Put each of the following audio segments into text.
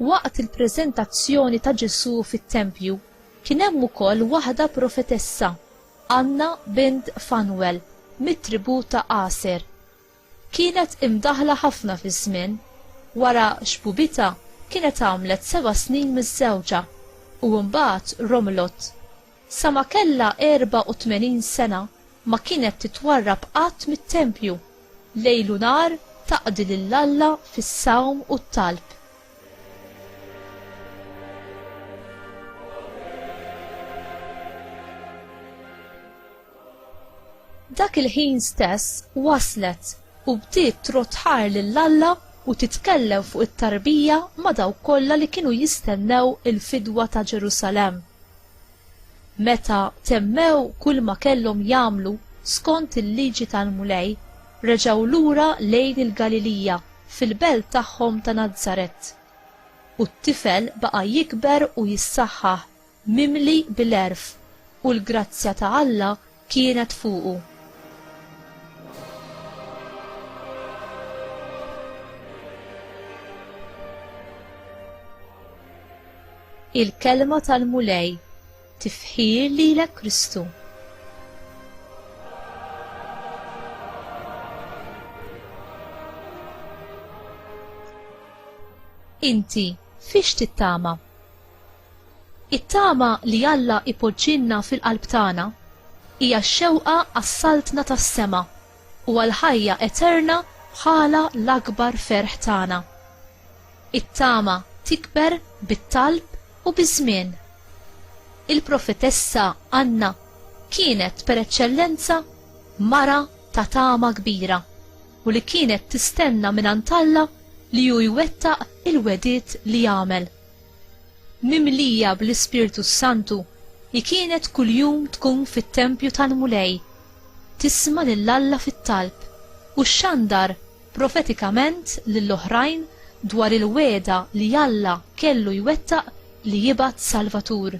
Waqt il-preżentazzjoni ta' Ġesù fit-tempju, kien hemm ukoll waħda profetessa, Anna bint Fanwel, mit-tribù ta' Aser, Kienet imdaħħla ħafna fiż-żmien. Wara xbubitha kienet għamlet seba' snin miżżewġa u mbagħad romlot. Sa ma kellha 84 sena ma kienet titwarrab qatt mit-tempju, lejl u nhar taqdi lil Alla fis-sawm u t-talb. Dak il-ħin stess waslet u bdiet trodd ħar lil Alla u titkellem fuq it-tarbija ma' dawk kollha li kienu jistennew il-fidwa ta' Ġerusalemm. Meta temmew kulma kellhom jagħmlu skont il-liġi tal-Mulej, reġgħu lura lejn il-Galilija fil-belt tagħhom ta' Nazaret. U t-tifel baqa' jikber u jissaħħaħ mimli bil-għerf, u l-grazzja ta' Alla kienet fuqu. Il-Kelma tal-Mulej, tifħir lilek Kristu. Inti fiex tittama? It-tama li Alla jpoġġilna fil-qalb tagħna hija x-xewqa għas-Saltna tas-sema u għall-ħajja eterna bħala l-akbar ferħ tagħna. It-tama tikber bit-talb u biż-żmien. Il-profetessa Anna kienet per eċċellenza mara ta' tama kbira u li kienet tistenna mingħand Alla li hu jwettaq il-wegħdiet li għamel. Mimlija bl-Ispirtu s-Santu, hi kienet kuljum tkun fit-tempju tal-Mulej, tisma' lil Alla fit-talb, u xxandar profetikament lil oħrajn dwar il-wegħda li Alla kellu jwettaq li jibgħat Salvatur.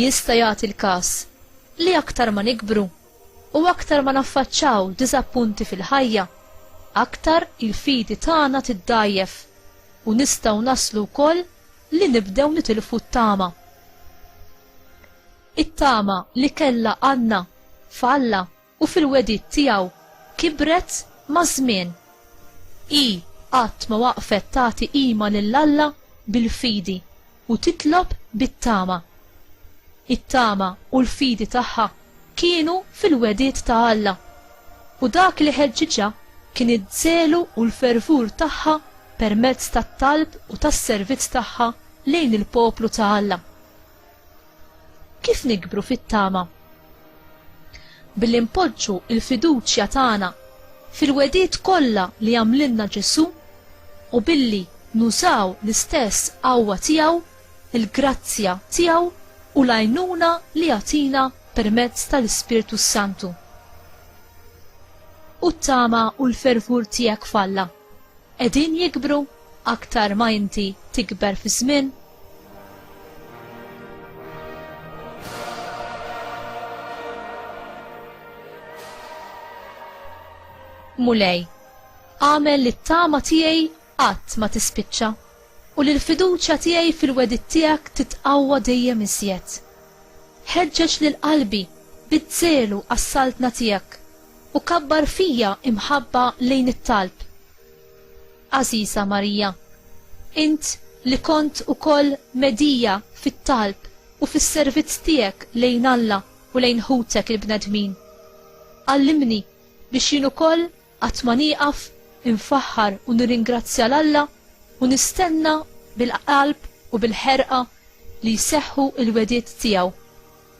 Jista' jagħti l-każ li aktar ma nikbru u aktar ma naffaċċaw diżappunti fil-ħajja, aktar il-fidi tagħna tiddgħajjef u nistgħu naslu wkoll li nibdew nitilfu t-tama. It-tama li kellha Anna f'Alla u fil-wegħdiet tiegħu kibret maż-żmien. Hi qatt ma waqfet tagħti qima lil Alla bil-fidi u titlob bit-tama. It-tama u l-fidi tagħha kienu fil-wegħdiet ta' Alla, u dak li ħeġġiġha kien iż-żelu u l-fervur tagħha permezz tat-talb u tas-servizz tagħha lejn il-poplu ta' Alla. Kif nikbru fit-tama? Billi npoġġu l-fiduċja tagħna fil-wegħdiet kollha li għamlilna Ġesù u billi nużaw l-istess qawwa tiegħu, il-grazzja tiegħu u l-għajnuna li jagħtina permezz tal-Ispirtu s-Santu. U t-tama u l-fervur tiegħek f'Alla? qegħdin jikbru aktar ma inti tikber fiż-żmien? Mulej, għamel li t-tama tiegħi qatt ma tispiċċa u li l-fiduċja tiegħi fil-wedid tiegħek titqawwa dejjem iżjed. Ħeġġeġ lil qalbi bid-żelu għas-saltna tiegħek u kabbar fija imħabba lejn it-talb. Għażiża Marija, int li kont ukoll medhija fit-talb u fis-servizz tiegħek lejn Alla u lejn ħutek il-bnedmin, għallimni biex jien ukoll qatt ma nieqaf infaħħar u nirringrazzja 'l Alla u nistenna bil-qalb u bil-ħerqa li jseħħu l-wegħdiet tiegħu.